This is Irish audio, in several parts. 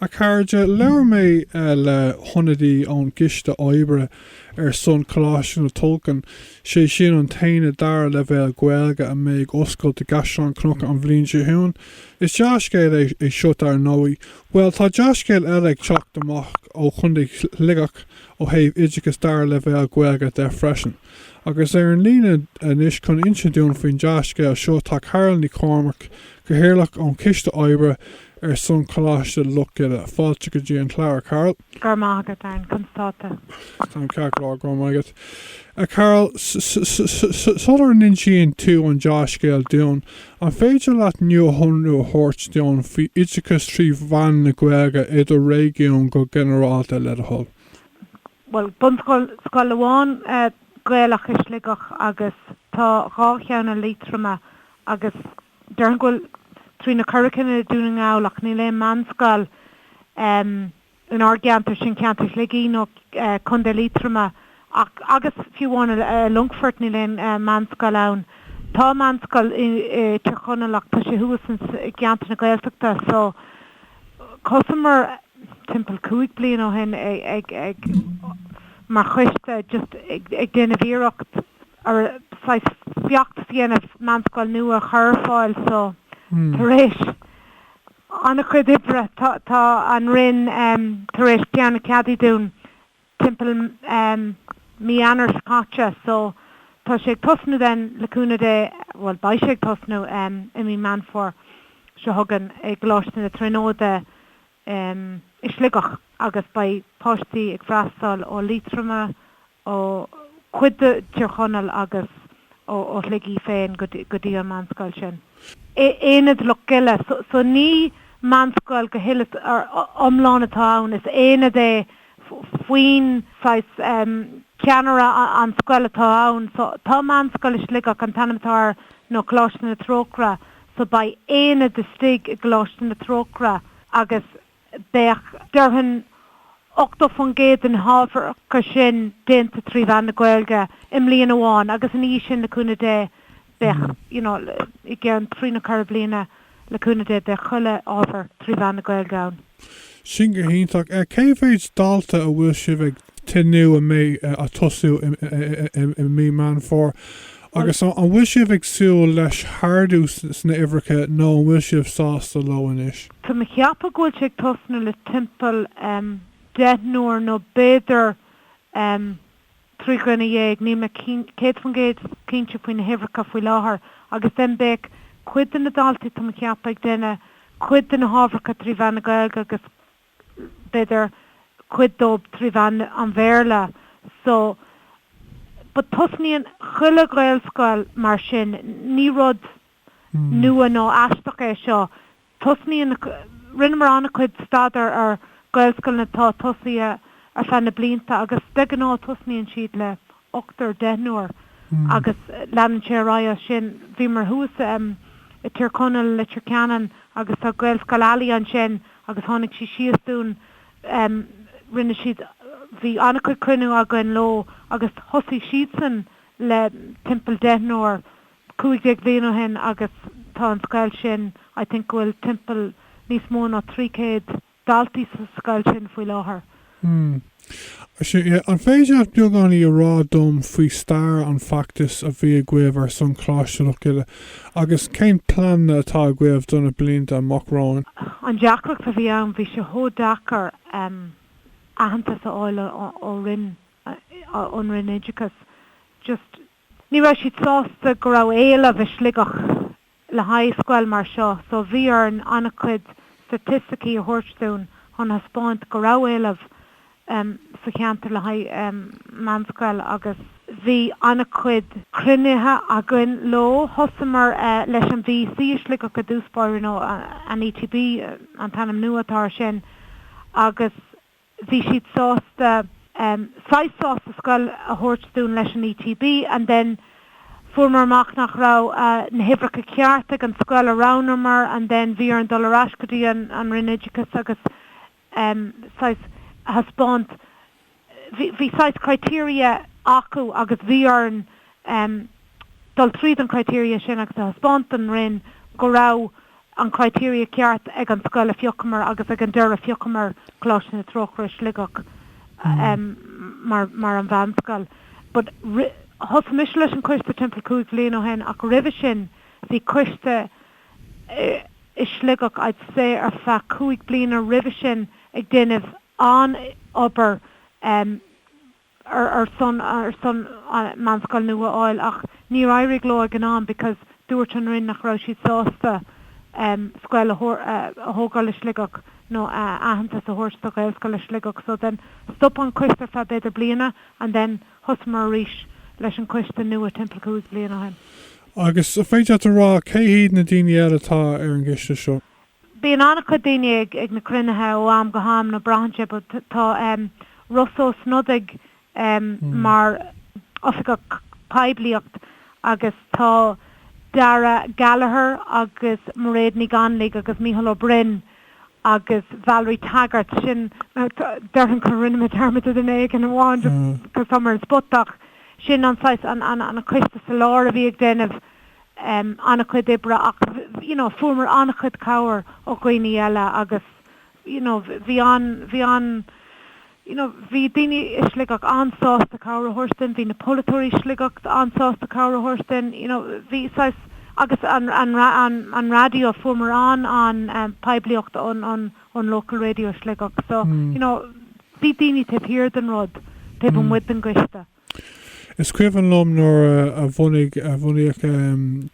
A chairde, labhair mé le hionadaí ón gCoiste Oibre ar son Choláiste na Tulchann, sé sin an t-aonad dara leibhéal Gaeilge a mbeidh ag oscailt i gCaisleán Cnucha an bhliain seo chugainn. Is dea-scéal é seo dar ndóigh. Bhuel, tá dea-scéal eile ag teacht amach ó Chontae Shligigh ó thaobh oideachas dara leibhéal Gaeilge de freisin. Agus ar an líne anois chun insint dúinn faoin dea-scéal seo tá Carol Ní Chormaic, Cathaoirleach ón Choiste Oibre, ar son Coláiste Loch Gile. Fáilte go dtí an Clár, a Carol. Go raibh maith agat, a An. Conas atá tú? Tá mé ceart go leor, go raibh maith agat, a Carol. Sular n-insíonn tú an dea-scéal dúinn, an féidir leat nuashonrú a thabhairt dúinn faoi oideachas trí mheán na Gaeilge i do réigiún go ginearálta, le do thoil? Bhuel, bunscoil amháin Gaelach i Sligeach agus tá dhá cheann i Liatroma agus. Déarfainn go bhfuil trí nó ceithre cinn i Dún na nGall ach níl aon meánscoil in ár gceantar, sin ceantar Shligigh nó Contae Liatroma, ach agus fiú amháin i Longfort níl aon meánscoil ann. Tá meánscoil i Tír Chonaill ach tá sé thuas i gceantar na Gaeltachta so, Thosaíomar timpeall cúig bliain ó shin ag mar choiste just ag déanamh iarracht ar saghas feachtas a dhéanamh meánscoil nua a chur ar fáil so tar éis an-chuid oibre tá an Roinn tar éis ceann a cheadú dúinn. timpeall mí Eanáir seo caite so tá sé ag tosnú then le cúnamh Dé bhuel beidh sé ag tosnú i mí Meán Fómhair seo chugainn i gColáiste na Tríonóide i Sligeach agus beidh páistí ag freastáil ó Liatroma, ó chuid de Tír Chonaill agus ó Shligigh féin go dtí an meánscoil sin. Aonad Loch Gile so ní meánscoil go huile 's iomlán atá ann is aonad é faoin saghas ceannaire an scoil atá ann. So tá Meánscoil i Sligeach, an t-ainm atá air nó Coláiste na Trócaire, so beidh aonad istigh i gColáiste na Trócaire agus beidh déarfainn 80% de na hábhair acu sin déanta trí mheán na Gaeilge i mbliain amháin agus ina dhiaidh sin le cúnamh Dé Beidh, you know, i gceann trí nó ceithre bliana le cúnamh Dé, beidh chuile ábhar trí mheán na Gaeilge ann. Sin go hiontach. Cé mhéid dalta a bhfuil sibh ag tnúth a mbeidh ag tosú i mí Meán Fómhair? Agus an bhfuil sibh ag súil le hardú sna huimhreacha nó an bhfuil sibh sásta leo anois? Tá mé ag ceapadh go bhfuil sé ag tosnú le timpeall deichniúr nó b'fhéidir Trí dhuine dhéag, níl mé 100% cinnte faoi na huimhreacha faoi láthair, agus then beidh cuid de na daltaí tá mé ag ceapadh ag déanamh cuid de na hábharacha trí mheán na Gaeilge agus b'fhéidir cuid dóib trí mheán an Bhéarla so but tosnaíonn chuile Ghaelscoil mar sin ní rud nua nó aisteach é seo. Tosnaíonn. Rinneamar an-chuid staidéar ar Gaelscoileanna atá tosaithe ar feadh na blianta agus de ghnáth tosnaíonn siad le ochtar, deichniúr agus leanann sé ar aghaidh as sin. Bhíomar thuas i Tír Chonaill, Leitir Ceanainn agus tá Gaelscoil Ailigh ansin agus tháinig sí síos dúinn. Rinne siad. Bhí an-chuid cruinnithe againn leo agus thosaigh siadsan le timpeall deichniúr. cúig déag bhliain ó shin agus tá an scoil sin, I think go bhfuil timpeall níos mó ná trí céad daltaí sa scoil sin faoi láthair. An féidir leat beagáinín a rá dom faoi stair an feachtais a bhí agaibh ar son Choláiste Loch Gile agus cén pleananna atá agaibh do na blianta amach romhainn? An deacracht a bhí ann, bhí sé chomh deacair em aitheantas a fháil ó roinn, ón roinn oideachais just, Ní raibh siad sásta go raibh éileamh i Sligeach le haghaidh scoil mar seo, so bhí orainn an-chuid staitisticí a thabhairt dúinn chun a thaispeáint go raibh éileamh sa cheantar le haghaidh meánscoil agus bhí an-chuid cruinnithe againn leo. Thosamar leis an VEC i Sligeach i dtús báire, nó an ETB an t-ainm nua atá air sin, agus. bhí siad sásta saghas sásta scoil a thabhairt dúinn leis an ETB and then fuaireamar amach nach raibh na huimhreacha ceart ag an scoil a roghnaíomar and then bhí orainn dul ar ais go dtí an Roinn Oideachais agus saghas a thaispeáint bhí saghas criteria acu agus bhí orainn dul tríd an criteria sin agus a thaispeáint don Roinn go raibh an criteria ceart ag an scoil a phiocamar agus ag an deireadh phiocamar Coláiste na Trócaire, Sligeach mar an mheánscoil. But thosaigh mise leis an coiste timpeall cúig bliain ó shin ach roimhe sin bhí coiste i Sligeach I'd say ar feadh cúig bliana roimhe sin ag déanamh an obair ar son ar son meánscoil nua a fháil ach níor éirigh leo ag an am because dúirt an Roinn nach raibh siad sásta scoil a thógáil i Sligeach nó aitheantas a thabhairt do Ghaelscoil i Sligeach so then stop an coiste ar feadh b'fhéidir bliana and then thosamar arís leis an coiste nua timpeall cúig bhliain ó shin. Agus an féidir leat a rá cé hiad na daoine eile atá ar an gcoiste seo? Bíonn an-chuid daoine ag na cruinnithe ó am go ham, braitheann sé, but tá Rossa Ó Snodaigh mar Oifigeach Poiblíocht agus tá Dara Gallagher agus Mairéad Ní Ghainligh agus Micheál Ó Broin agus Valerie Taggart, sin, déarfainn go ndearna mé dearmad de duine éigin amháin just because tá mé ar an spot ach sin an saghas, an coiste sa lár a bhí ag déanamh an-chuid oibre ach you know fuaireamar an-chuid cabhair ó dhaoine eile agus you know bhí an, bhí an you know bhí daoine i Sligeach an-sásta cabhair a thabhairt dúinn, bhí na polaiteoirí i Sligeach an-sásta cabhair a thabhairt dúinn, you know bhí saghas agus an, an, an, an raidió fuaireamar an, an, an poiblíocht ón, ón, ón local radio i Sligeach so you know bhí daoine taobh thiar den rud, taobh amuigh den gcoiste. Is cuimhin liom nuair a bhunaigh, a bhunaíodh em.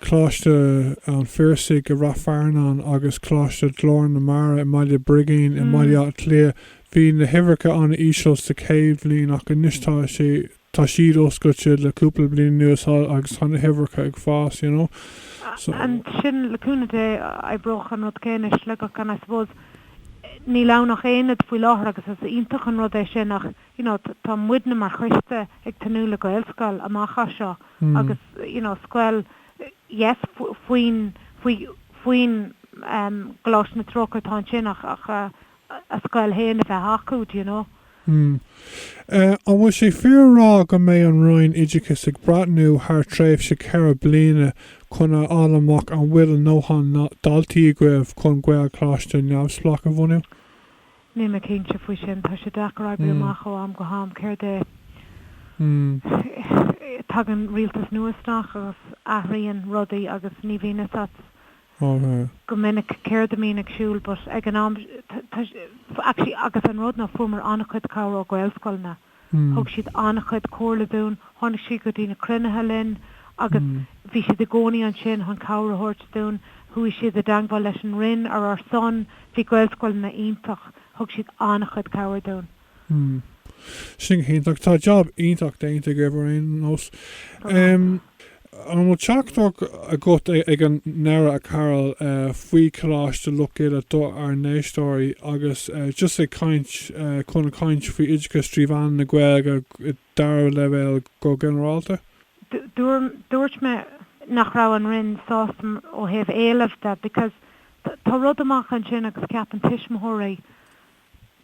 Coláiste an Phiarsaigh i Ráth Fearnáin agus Coláiste Ghlór na Mara i mBaile Brigín i mBaile Átha Cliath, bhí na huimhreacha an-íseal sa chéad bhliain ach anois tá sé, tá siad oscailte le cúpla bliain anuas agus tá na huimhreacha ag fás, you know. So. Ansin le cúnamh Dé oibreoidh an rud céanna i Sligeach and I suppose níl ann ach aonad faoi láthair agus is iontach an rud é sin ach, you know tá muidne mar choiste ag tnúth le Gaelscoil amach as seo agus you know scoil yes faoin faoi faoin em Coláiste na Trócaire atá ansin ach ach a a scoil féin a bheith acu do you know. Hmm. Eh an bhfuil sé fíor a rá go mbeidh an Roinn Oideachais ag breathnú thar tréimhse ceithre bliana chun a fháil amach an bhfuil a ndóthain daltaí agaibh chun Gaelcholáiste neamhspleách a bhunú? Níl mé cinnte faoi sin. Tá sé deacair oibriú amach ó am go ham céard é. Tagann rialtas nua isteach agus athraíonn rudaí agus ní bhíonn fhios a't go minic céard a bhíonn ar siúl but ag an am, tá sé, actually agus an rud ná fuaireamar an-chuid cabhair ó Gaelscoileanna. Thug siad an-chuid comhairle dúinn. Tháinig siad go dtí na cruinnithe linn agus bhí siad i gcónaí ansin chun cabhair a thabhairt dúinn. Chuaigh siad i dteangmháil leis an Roinn ar ár son. Bhí Gaelscoileanna iontach. Thug siad an-chuid cabhair dúinn. Sin go hiontach. Tá jab iontach déanta agaibh ar aon nós. An bhfuil teachtaireacht agat ag an ndeireadh, a Carol, faoi Choláiste Loch Gile do ár n-éisteoirí agus just ag caint chun caint faoi oideachas trí mheán na Gaeilge i dara leibhéal go ginearálta? Dúirt mé nach raibh an Roinn sásta ó thaobh éilimh de because tá rud amach ansin agus ceapann tuismitheoirí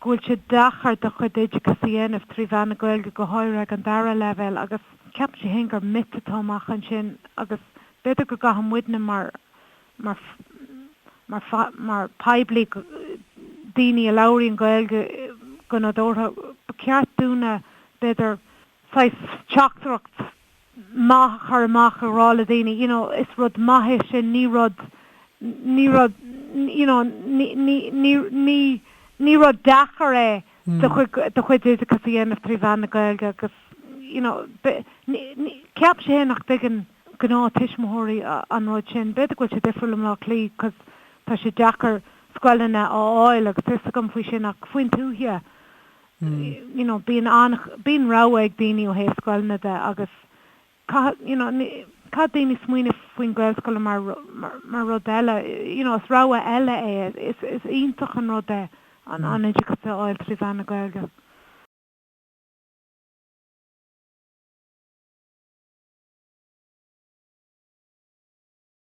go bhfuil sé deacair do chuid oideachas a dhéanamh trí mheán na Gaeilge, go háirithe ag an dara leibhéal, agus ceapann sí féin gur 'myth' atá amach ansin agus b'fhéidir go gcaithfidh muidne mar, mar, mar, mar poiblí, daoine a labhraíonn Gaeilge go nadúrtha, ba cheart dúinne b'fhéidir, saghas teachtaireacht maith a chur amach a rá le daoine you know is rud maith é sin ní rud ní rud you know ní ní ní ní ní rud deacair é do chuid do chuid oideachas a dhéanamh trí mheán na Gaeilge agus you know be ní ní ceapaimse fhéin nach dtuigeann gnáth tuismitheoirí an rud sin b'fhéidir go bhfuil sé difriúil i mBlá Cliath cos tá sé deacair scoileanna a fháil agus tá fhios agam faoi sin ach faoin tuaithe you know bíonn an, bíonn rogha ag daoine ó thaobh scoileanna de agus caithfidh, you know caithfidh daoine smaoineamh faoin Ghaelscoileanna mar, mar rud eile, you know is rogha eile é, is, is iontach an rud é an, an oideachas a fháil trí mheán na Gaeilge.